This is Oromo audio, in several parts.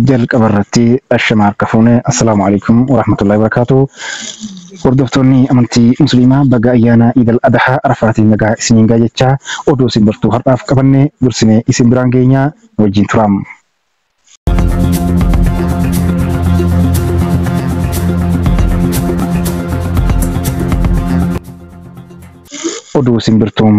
jalqaba irratti ashama harka fuune assalaamu alaikum warahmatullahi wabarakaatu hordoftoonni amantii musliimaa baga ayyaana idal adahaa arafaatiin nagaa isiniin gaa jechaa oduu isin birtuu har'aaf qabanne dursinee isin biraan geenyaa wajjin turaam. Oduu Simbirtuu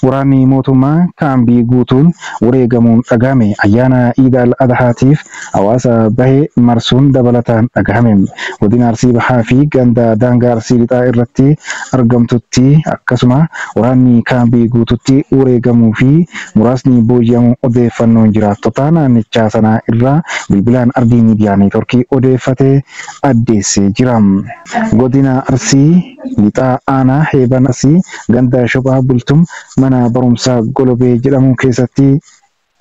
Waraanni mootummaa kaambii guutuun wareegamuun dhagahame Ayyaana Iidaal Adahaatiif hawaasa bahe marsuun dabalataan dhagahame Godina Arsii Bahaa fi ganda daangaa Arsii Lixaa irratti argamtutti akkasuma waraanni kaambii guututti wareegamuu fi muraasni booji'amuu odeeffannoon jiraattota naannichaa sanaa irraa bilbilaan Ardii Miidiyaa Neetworkii odeeffate addeessee jira. Godina Arsii Lixaa Aanaa Heeban Arsii ganda Shophaa Bultum mana barumsaa Golobee jedhamu keessatti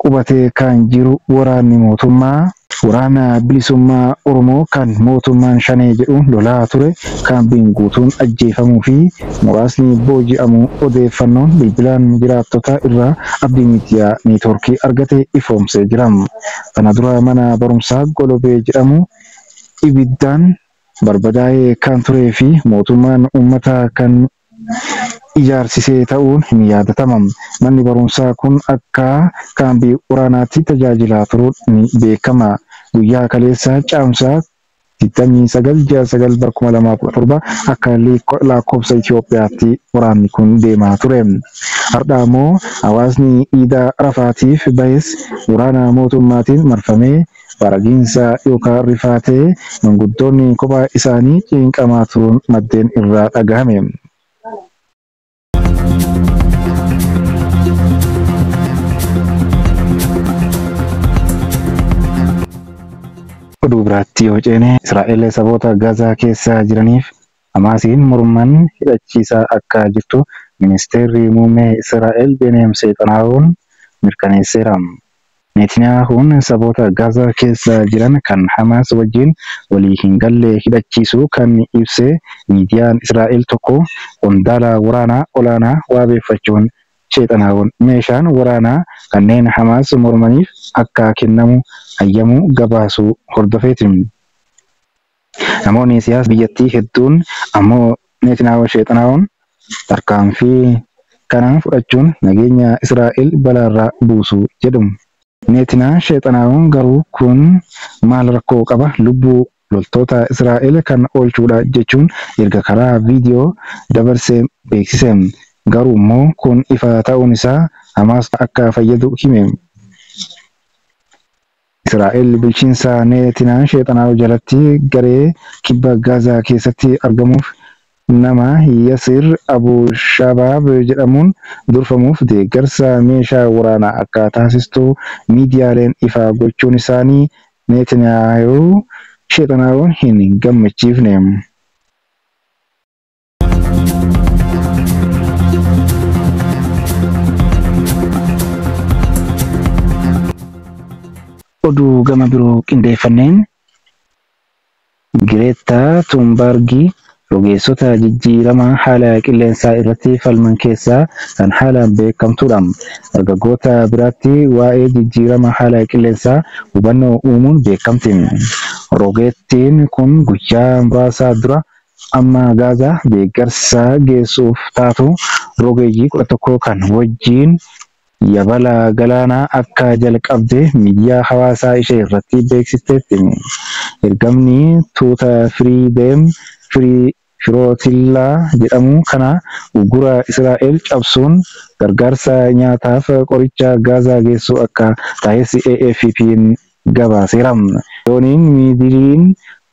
qubatee kan jiru waraanni mootummaa, Waraana Bilisummaa Oromoo kan mootummaan Shanee jedhu lolaa ture kaambiin guutuun ajjeefamuu fi muraasni booji'amuu odeeffannoon bilbilaan jiraattota irraa Abdii Miidiyaa Neetwoorkii argate ifoomsee jira. Kana dura mana barumsaa Golobee jedhamu ibiddaan barbadaa'ee kan turee fi mootummaan uummata kan ijaarsisee ta'uun hin yaadatama. Manni barumsaa kun akka kaambii waraanaatti tajaajilaa turuun ni beekama. Guyyaa kaleessaa Caamsaa 29 ji'a 9 bara 2017 akka lakkoofsa Itoophiyaatti waraanni kun deemaa ture. Hardha ammoo hawaasni iidaa Arafaatiif bahes waraana mootummaatiin marfamee Baragiinsa yookaan rifaatee manguddoonni kophaa isaanii ciinqamaa turuun maddeen irraa dhagahame. Oduu biraatti yoo ceene, Israa'el saboota Gazaa keessa jiraniif Hamaasiin morman hidhachiisaa akka jirtu Ministeerri Muummee Israa'el Beeniyam Seexanaahuun mirkaneesseera. Neetiniyaahuun saboota Gaazaa keessa jiran kan Hamaas wajjin walii hin galle hidhachiisuu kan ibse miidiyaan Israa'el tokko qondaala waraanaa olaanaa waabeeffachuun Seexanaahuun meeshaan waraanaa kanneen Hamaas mormaniif akka kennamu hayyamuu gabaasuu hordofeeti. Namoonni siyaasa biyyattii hedduun ammoo Neetinaahoo sheexanaa'uun tarkaanfii kana fudhachuun nageenya Israa'el balaarra buusu jedhu. Neetinaa sheexanaa'uun garuu kun maal rakkoo qaba lubbuu loltoota Israa'el kan oolchuudha jechuun erga karaa viidiyoo dabarse beeksise. Garuummoo kun ifa ta'uun isaa Hamaas akka fayyadu hime. Israa'el bulchiinsa Neetinaan Sheexanaahu jalatti garee kibba Gaazaa keessatti argamuuf nama Yasir Abu Shabaab jedhamuun durfamuuf deeggarsa meeshaa waraanaa akka taasistu miidiyaaleen ifaa gochuun isaanii Neetinaayahuu Sheexanaahuun hin gammachiifne. Oduu gama biroo qindeeffanneen Gireettaa Tuunbaargi rogeessota jijjiirama haala qilleensaa irratti falman keessaa kan haalaan beekamtuudha. Dargaggoota biratti waa'ee jijjiirama haala qilleensaa hubannoo uumuun beekamti. Rogeettiin kun guyyaa muraasa dura Amma Gaazaa deeggarsa geessuuf taatu rogeeyyii 11 kan wajjiin yabala galaanaa akka jalqabde miidiyaa hawaasaa ishee irratti beeksisteetti. Ergamni tuuta Firii Deem Firootillaa jedhamu kana uggura Israa'el cabsuun gargaarsa nyaataaf qoricha Gaazaa geessuu akka tahes AFP'n gabaaseera. Dooniin Miidiliin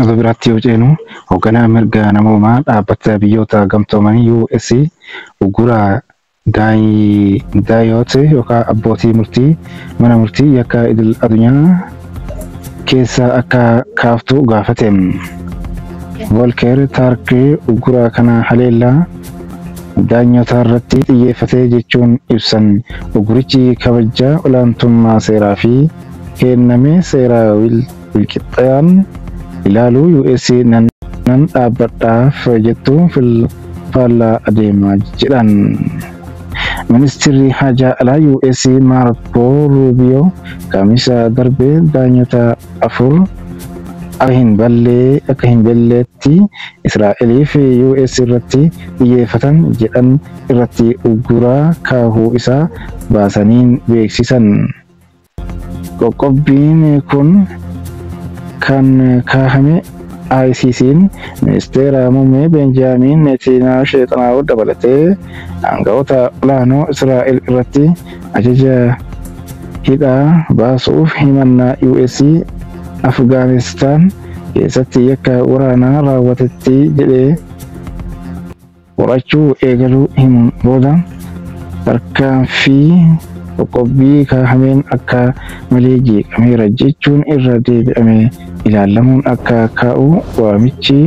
Oduu biraatti yoo ceenu, hogganaan mirga namoomaa Dhaabbata Biyyoota Gamtoomanii, US, uggura Daayot yookaa abbootii murtii mana murtii yakka idil adunyaa keessaa akka kaaftu gaafate. Volker Turk uggura kana haleellaa daanyotaarratti xiyyeeffatee jechuun ibsan. Uggurichi kabajja olaantummaa seeraa fi keenname seera wil Wikipean, ilaalu usa nan dhaabbadhaaf jettu fil faallaa adeema jedhan Ministirri Haajaa Alaa US Maarko Ruubiyoo Kamisa darbe daanyota afur akka hin balle akka hin belleetti Israa'elii fi US irratti xiyyeeffatan jedhan irratti ugguraa kaahuu isaa baasaniin beeksisan. Qoqqobbiin kun kan kaahame ICC'n Ministeera Muummee Beenjaamiin Neetiinaahu Sheexanaahu dabalatee aanga'oota olaanoo Israa'el irratti ajaja hidhaa baasuuf himannaa US Afgaanistaan keessatti yakka waraanaa raawwatetti jedhee qorachuu eegaluu himuun booda tarkaanfii qoqqobbii kaahameen akka malee jeeqameera jechuun irra deebi'amee ilaallamuun akka ka'u waamichi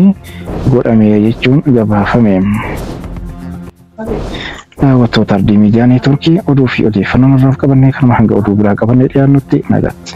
godhameera jechuun gabaafame. Daawwattoota Ardii Miidiyaa Neetworkii oduu fi odeeffannoon har'aaf qabannee kanuma hanga oduu biraa qabannee dhiyaannutti nagaatti.